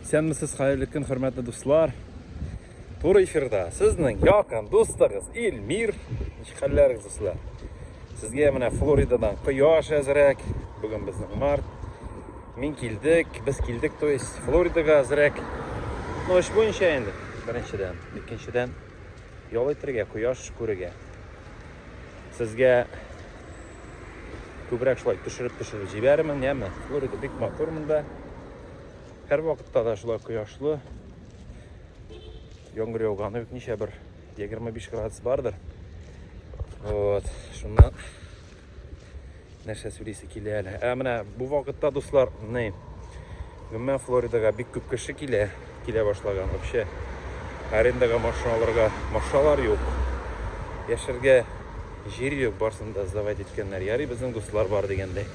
Исәнмесез, хәерле көн, хөрмәтле дуслар. Туры эфирда сезнең якын дустыгыз Илмир. Ничек хәлләрегез, дуслар? Сезгә менә Флоридадан кояш әзрәк. Бүген безнең март. Мин килдек, без килдек, то есть Флоридага әзрәк. Ну, эш буенча инде, беренчедән. Икенчедән, Ял итергә, кояш күрергә. Сезгә күбрәк шулай төшереп төшереп җибәрермен, яме. Флорида бик матур монда. Һәр вакытта да шулай кояшлы. Яңгыр яуганы юк, ничә бер 25 градус бардыр. Вот, шуннан нәрсә сөйлисе килә әле. Ә менә бу вакытта, дуслар, ни, гомумән Флоридага бик күп кеше килә, килә башлаган. Вообще, арендага машина алырга машиналар юк. Яшәргә җир юк, барсын да сдавать иткәннәр. Ярый, безнең дуслар бар дигәндәй.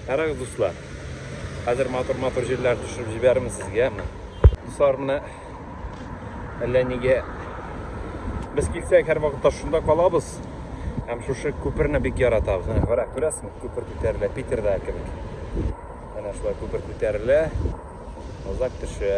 Карагыз, дуслар. Хәзер матур-матур җирләр төшереп җибәрәм сезгә. Дуслар, менә Әллә нигә без килсәк һәрвакытта шунда калабыз һәм шушы күперне бик яратабыз менә карак күрәсезме күпер күтәрелә питерда кебек менә шулай күпер күтәрелә озак төшә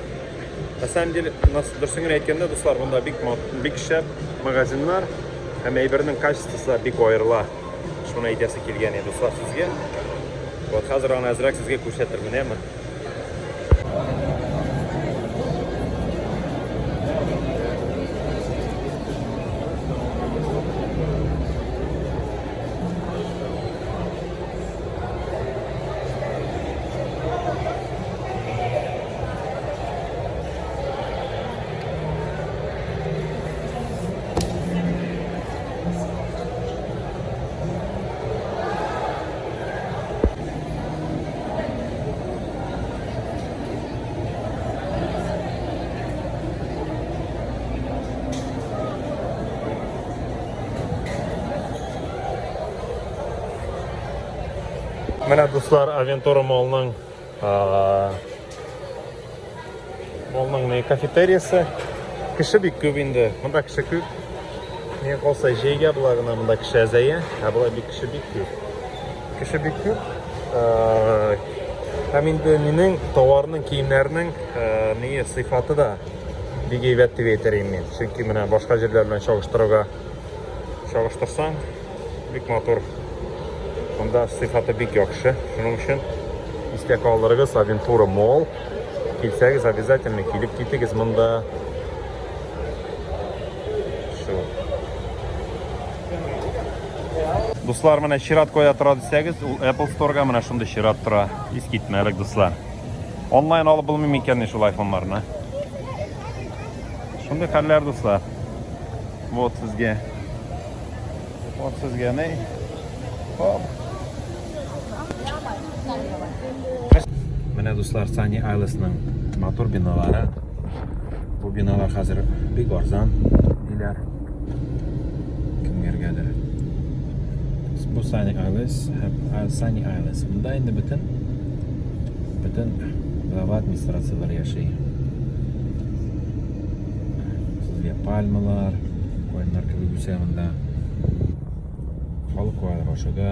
На самом деле, дөресен генә әйткәндә, дуслар, монда бик бик шәп магазиннар һәм әйбернең качествосы да бик аерыла. Шуны әйтәсе килгән иде, дуслар, сезгә. Вот хәзер аны әзрәк сезгә күрсәтермен, әмма. Менә дуслар Авентора молның Моның не кафетериясы. Кеше бик күп инде. Монда кеше күп. Миңа калса җәйгә була гына монда кеше әзәя, ә болай бик кеше бик күп. Кеше бик күп. Һәм инде минем товарның, киемнәрнең ние сыйфаты да бик әйбәт дип әйтер идем мин. Чөнки менә башка җирләр белән чагыштыруга Чагыштырсаң, бик матур. Монда сыйфаты бик яхшы. Шуның өчен истә калдырыгыз Авентура Мол. Килсәгез, обязательно килеп китегез монда. Шу. Дуслар, менә чират кая тора дисәгез, ул Apple Store-га менә шундый чират тора. Искитмәлек, дуслар. Онлайн алып булмый микәнни шул айфоннарны? Шундый хәлләр, дуслар. Вот сезгә. Вот сезгә не. Хоп. Менә дуслар Сани Айлесның матур биналары. Бу биналар хәзер бик арзан диләр. Кемгәргәдер. Бу Сани Айлес һәм Сани Айлес. Монда инде бөтен бөтен глава администрацияләр яши. Сезгә пальмалар, кайнар кебек үсә монда. Халык бар ашыда.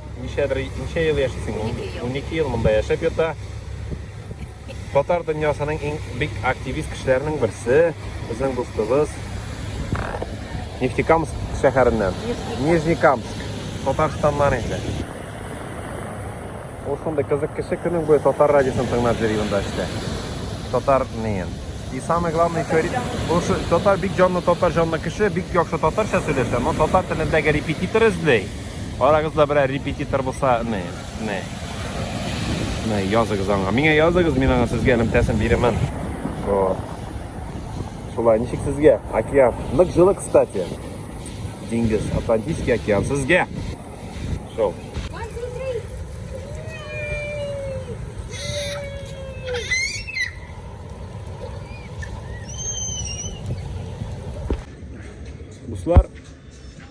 Ничәдер, ничә ел яшисең? Унике ел. Унике ел монда яшәп ята. Татар дөньясының иң бик активист кешеләренең берсе, безнең дустыбыз. Нефтекамск шәһәреннән. Нижнекамск. Татарстаннан инде. Ул шундый кызык кеше көнең буе татар радиосын тыңлап йөри монда эштә. Татар неен. И самое главное, еще ре- ул шу- татар бик җанлы татар җанлы кеше, бик яхшы татарча сөйләшә, но татар телендәге репетитор эзли. Арагызда берәр репетитор булса, не, не. Не, языгыз аңа. Миңа языгыз, мин аңа сезгә элемтәсен бирәмен. О. Шулай, ничек сезгә? Океан. Нык җылы, кстати. Диңгез, Атлантический океан. Сезгә! Шоу. Дуслар,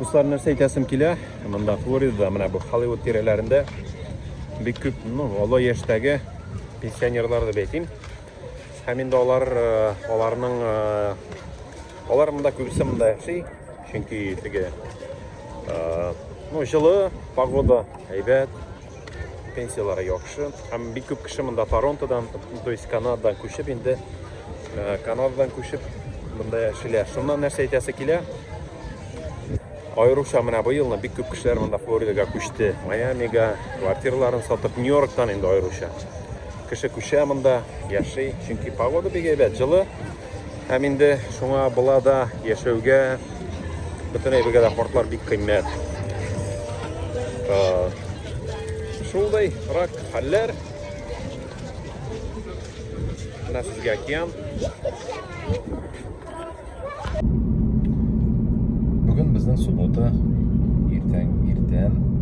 Дуслар, нәрсә әйтәсем килә? Монда Флорида, менә бу Холливуд тирәләрендә бик күп, ну, олы яшьтәге пенсионерлар дип әйтим. Һәм инде алар, э, аларның э, алар монда күбесе монда яши, Чөнки теге ну, җылы погода, әйбәт, пенсияләре яхшы. Һәм бик күп кеше монда Торонтодан, то есть Канададан күчеп инде Канададан күчеп монда яшиләр. Шуннан нәрсә әйтәсе килә? Аеруча менә бу елны бик күп кешеләр монда Флоридага күчте. Майамига квартираларын сатып Нью-Йорктан инде аеруча. Кеше күчә монда, яши, чөнки погода бик әйбәт, җылы. Һәм инде шуңа була да яшәүгә бөтен әйбергә дә картлар бик кыйммәт. Шулдай рак хәлләр. Менә сезгә океан. Бүген безнең суббота иртән иртән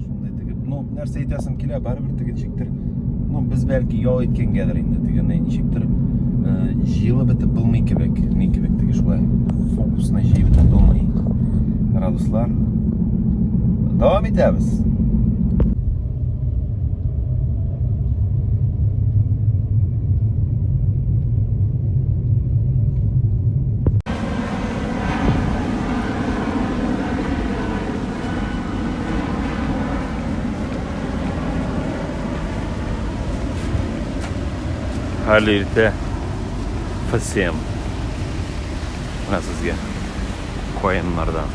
Шундый тегеп, ну, нәрсә әйтәсем килә, барыбер тегенчектер. Ну, без бәлки ял иткәнгәдер инде тегене, ничектер э, җыелып бетеп булмый кебек, ни кебек теге шулай. Фокусны җыеп булмый. Радуслар. Дәвам итәбез. Хәле иртә фсем. Менә сезгә каеннардан.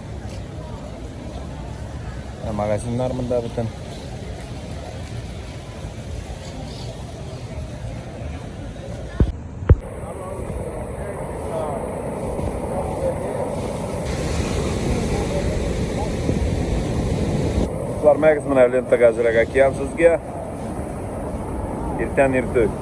Ә магазиннар монда бөтен. Кызлар мәгіз мына лентага әзрәк әкиям сезгә. Иртән иртүк.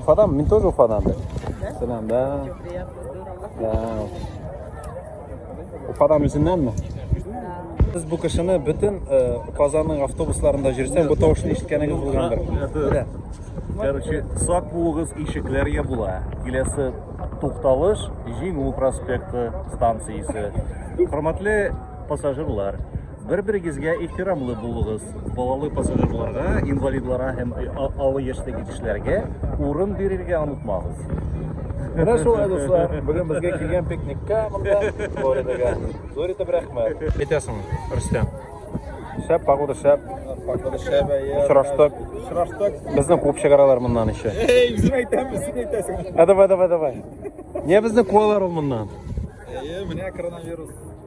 Уфадан, мин тоже Уфадан. Да? Сәлам, да. Да. Уфадан үзеннәнме? Сез бу кешене бөтен э, Казанның автобусларында жүрсә, бу тавышны ишеткәнегез булгандыр. Белә. Короче, сак булыгыз, ишекләр я була. Киләсе тукталыш, Җиңү проспекты станциясе. Хөрмәтле пассажирлар, Бер-берегезгә ихтирамлы булыгыз. Балалы пассажирларга, инвалидларга һәм олы яшьтәге кешеләргә урын бирергә онытмагыз. Менә шулай, дуслар, бүген безгә килгән пикникка монда, Флоридага. Зур итеп рәхмәт. Әйтәсең, Рөстәм. Шәп погода, шәп. Погода шәп, әйе. Очраштык. Очраштык. Безне куып чыгаралар моннан еще. Эй, без әйтәбез, син әйтәсең. А давай, давай, давай. Не безне куалар ул моннан. Әйе, менә коронавирус.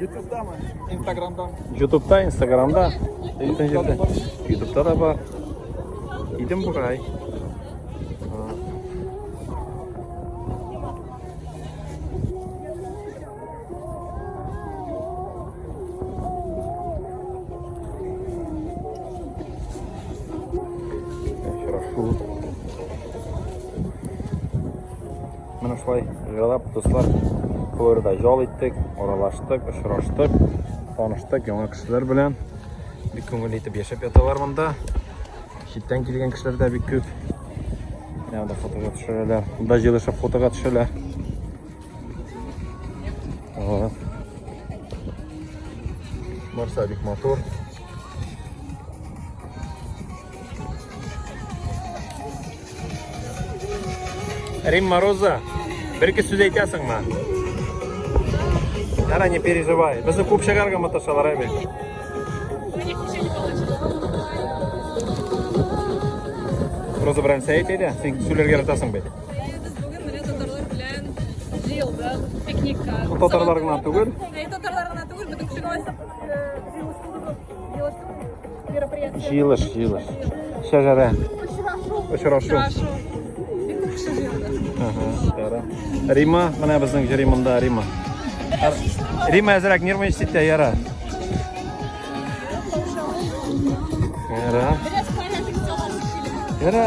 Ютубта ма? Инстаграмда. Ютубта, Инстаграмда. Ютубта да бар. Идем бурай. Менә шулай җайлап, дуслар, Кылуэрда ял иттек, аралаштык, очраштык, таныштык яңа кешеләр белән. Бик күңелле итеп яшәп яталар монда. Читтән килгән кешеләр дә бик күп. Менә монда фотога төшерәләр. Монда җылышып фотога төшәләр. Ага. Барса бик матур. Рим Мороза, бер кис сүз әйтәсеңме? Ара не переживай. Безне күп шәгәргә маташалар әбе. Роза белән сәйт әйдә, син сүләргә яратасың бит. Татарлар гына түгел. Татарлар гына түгел, бөтен кеше Җыелыш, җыелыш. Шәҗәрә. Очрашу. Рима, менә безнең җыри монда Рима. Рима әзрәк нервный ситтә яра. Яра. Яра.